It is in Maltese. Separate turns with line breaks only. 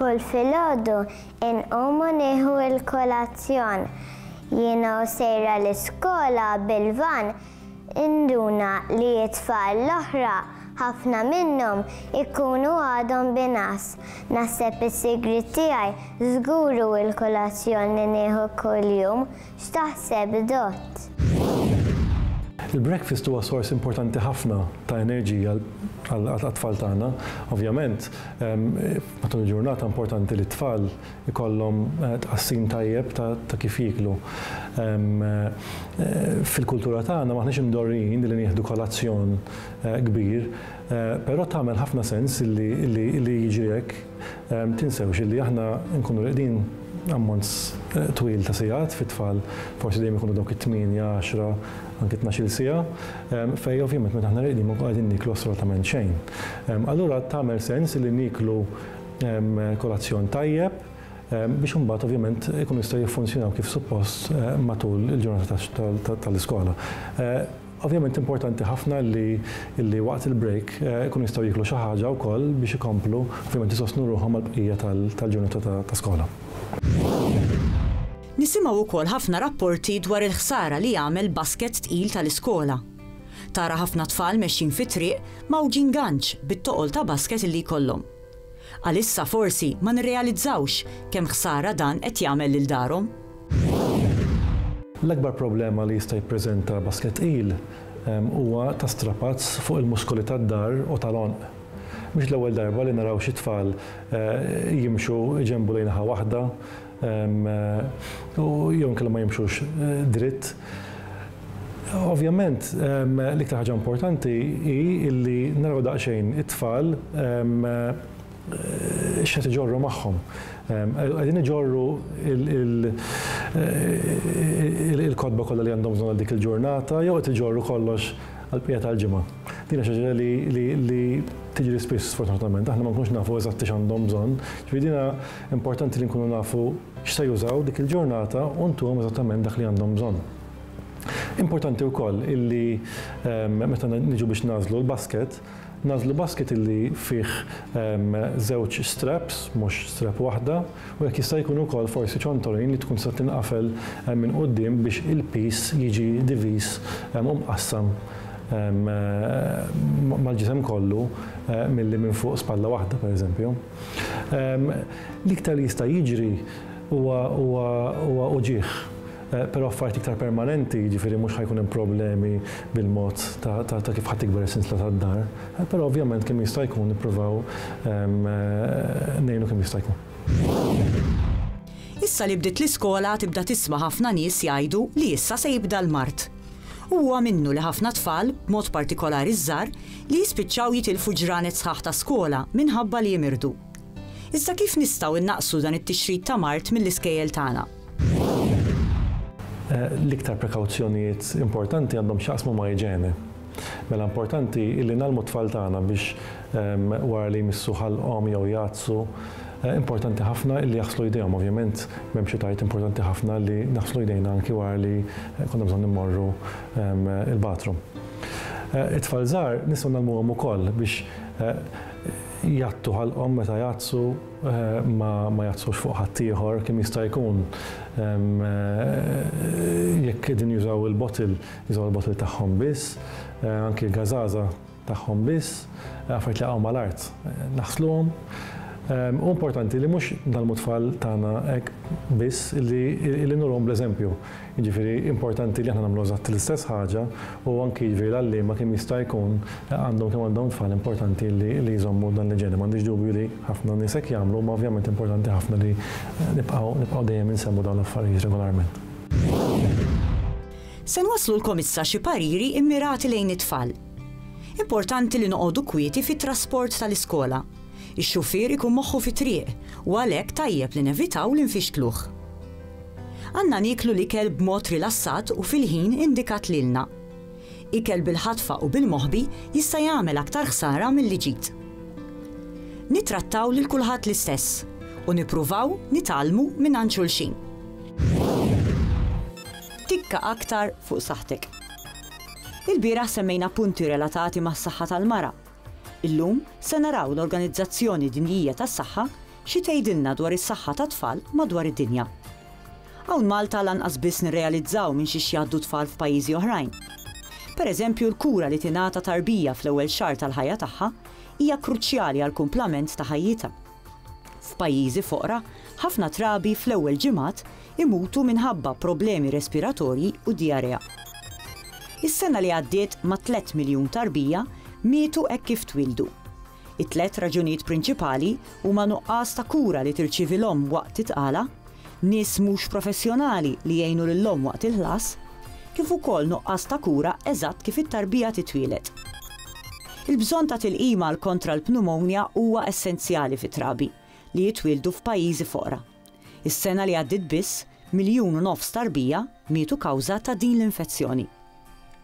Kull filgħodu inqumu nieħu l-kolazzjon. Jiena u sejra l-iskola bil-vann Induna li t-tfal l-oħra ħafna minnhom ikunu għadhom binqas. Naħseb is-sigriet tiegħi żgur hu l-kolazzjon li nieħu kuljum. X'taħseb Dott? Il-breakfast huwa sors importanti ħafna ta' enerġija għat-tfal tagħna. Ovvjament, matul il-ġurnata importanti li t-tfal ikollhom tqassim tajjeb ta' ta' kif jieklu. Fil-kultura tagħna m'aħniex imdorrijin li nieħdu kolazzjon kbir, però tagħmel ħafna sens li li li jiġri hekk. Tinsewx illi aħna nkunu rieqdin ammont twil ta' sigħat fit-tfal, forsi dejjem ikunu dawk it-tmienja, għaxra, anki tnax-il siegħa, fejn ovvjament meta aħna rieqdin ma nkunu qegħdin nieklu assolutament xejn. Allura tagħmel sens li nieklu kolazzjon tajjeb, biex imbagħad ovvjament ikunu jistgħu jiffunzjonaw kif suppost matul il-ġurnata tal-iskola. Ovvjament importanti ħafna li waqt il-break ikunu jistgħu jieklu xi ħaġa wkoll biex ikomplu ovvjament isostnu ruħhom għall-bqija tal-ġurnata ta' skola. Nisimgħu wkoll ħafna rapporti dwar il-ħsara li jagħmel basket tqil tal-iskola. Tara ħafna tfal mexjin fit-triq mgħawġin ganċ bit-toqol ta' basket li jkollhom. Għalissa forsi ma nirrealizzawx kemm ħsara dan qed jagħmel lil darhom. L-akbar problema li jista' jippreżenta baskett tqil huwa ta' strapazz fuq il-muskoli tad-dahr u tal-għonq. Mhix l-ewwel darba li naraw xi tfal jimxu, iġenbu lejn naħa waħda, u jew inkella ma jimxux dritt. Ovvjament l-iktar ħaġa importanti hi li naraw daqsxejn it-tfal x'qed iġorru magħhom. Qegħdin iġorru l-kotba kollha li għandhom bżonn għal dik il-ġurnata jew qed iġorru kollox għall-bqija tal-ġimgħa. Din hija xi ħaġa li tiġri spiss sfortunatament, aħna ma nkunux nafu eżatt x'għandhom bżonn, ġifieri din hija Importanti li nkunu nafu x'se jużaw dik il-ġurnata u ntuhom eżattament dak li għandhom bżonn. Importanti wkoll illi ehm, meta niġu biex nagħżlu l-basket, nagħżlu basket illi fih ehm, żewġ straps, mhux strap waħda, u jekk jista' jkun ukoll forsi ċontorin li tkun tista' tinqafel ehm, minn quddiem biex il-piż jiġi diviż u mqassam mal-ġisem kollu eh, milli minn fuq spalla waħda pereżempju. L-iktar li jista' jiġri huwa huwa huwa uġigħ, però affarijiet iktar permanenti, jiġifieri mhux ħa jkun hemm problemi bil-mod ta' ta' ta' kif ħa tikber is-sinsla tad-dar, però ovvjament kemm jista' jkun nippruvaw ngħinu kemm jista' jkun. Issa li bdiet l-iskola tibda tisma' ħafna nies jgħidu li issa se jibda l-mard. U huwa minnu li ħafna tfal, b'mod partikolari ż-żgħar, li jispiċċaw jitilfu ġranet sħaħ ta' skola minħabba li jimirdu. Iżda kif nistgħu innaqqsu dan it-tixrid ta' mard mill-iskejjel tagħna? L-iktar prekawzjonijiet importanti għandhom x'jaqsmu ma' iġene. Mela importanti li ngħallmu t-tfal tagħna biex ehm, wara li jmissu ħalqhom jew jgħaddsu, Eh, importanti ħafna li jaħslu jdejhom, ovvjament m'hemm xi tajt importanti ħafna li naħslu jdejna anki wara li eh, konna bżonn immorru ehm, il-bathroom. It-tfal żgħar nistgħu ngħallmuhom ukoll biex jgħattu ħalqhom meta jgħattsu, ma jgħattsux fuq ħaddieħor kemm jista' jkun. Jekk qegħdin jużaw il-bottle, jużaw il-bottle tagħhom biss, anki l-gażaża tagħhom biss, affarijiet li jaqgħu mal-art naħsluhom. Hu importanti li mhux ngħallmu t-tfal tagħna hekk biss, illi nurhom bl-eżempju. Jiġifieri importanti li aħna nagħmlu eżatt l-istess ħaġa u anki jiġifieri l-għalliema kemm jista' jkun għandhom kemm għandhom it-tfal importanti li li jżommu dan l-iġene. M'għandix dubju li ħafna nies hekk jagħmlu imma ovvjament importanti ħafna li nibqgħu nibqgħu dejjem insemmu dawn l-affarijiet regolarment. Se nwasslulkom issa xi pariri mmirati lejn it-tfal. Importanti li noqogħdu kwieti fit-trasport tal-iskola. Ix-xufier ikun moħħu fit-triq u għalhekk tajjeb li nevitaw li nfixkluh. Għandna nieklu l-ikel b'mod rilassat u fil-ħin indikat lilna. Ikel bil-ħatfa u bil-moħbi jista' jagħmel aktar ħsara milli ġid. Nittrattaw lil kulħadd l-istess u nippruvaw nitgħallmu mingħand xulxin. Tikka aktar fuq saħħtek. Ilbieraħ semmejna punti relatati mas-saħħa tal-mara Illum se naraw l-Organizzazzjoni Dinjija tas-Saħħa xi tgħidilna dwar is-saħħa tat-tfal madwar id-dinja. Hawn Malta lanqas biss nirrealizzaw minn xiex jgħaddu t-tfal f'pajjiżi oħrajn. Per eżempju l-kura li tingħata tarbija fl-ewwel xahar tal-ħajja tagħha hija kruċjali għall-kumplament ta' ħajjitha. F'pajjiżi foqra, ħafna trabi fl-ewwel ġimgħat imutu minħabba problemi respiratorji u dijarea. Is-sena li għaddiet ma' tliet miljun tarbija mietu hekk kif twieldu. It-tliet raġunijiet prinċipali huma nuqqas ta' kura li tirċievi l-omm waqt it-tqala, nies mhux professjonali li jgħinu lill-omm waqt il-ħlas, kif ukoll nuqqas ta' kura eżatt kif it-tarbija titwieled. Il-bżonn ta' tilqim għal kontra l-pneumonia huwa essenzjali fi trabi li jitwieldu f'pajjiżi foqra. Is-sena li għaddiet biss, miljun u nofs tarbija mietu kawża ta' din l-infezzjoni.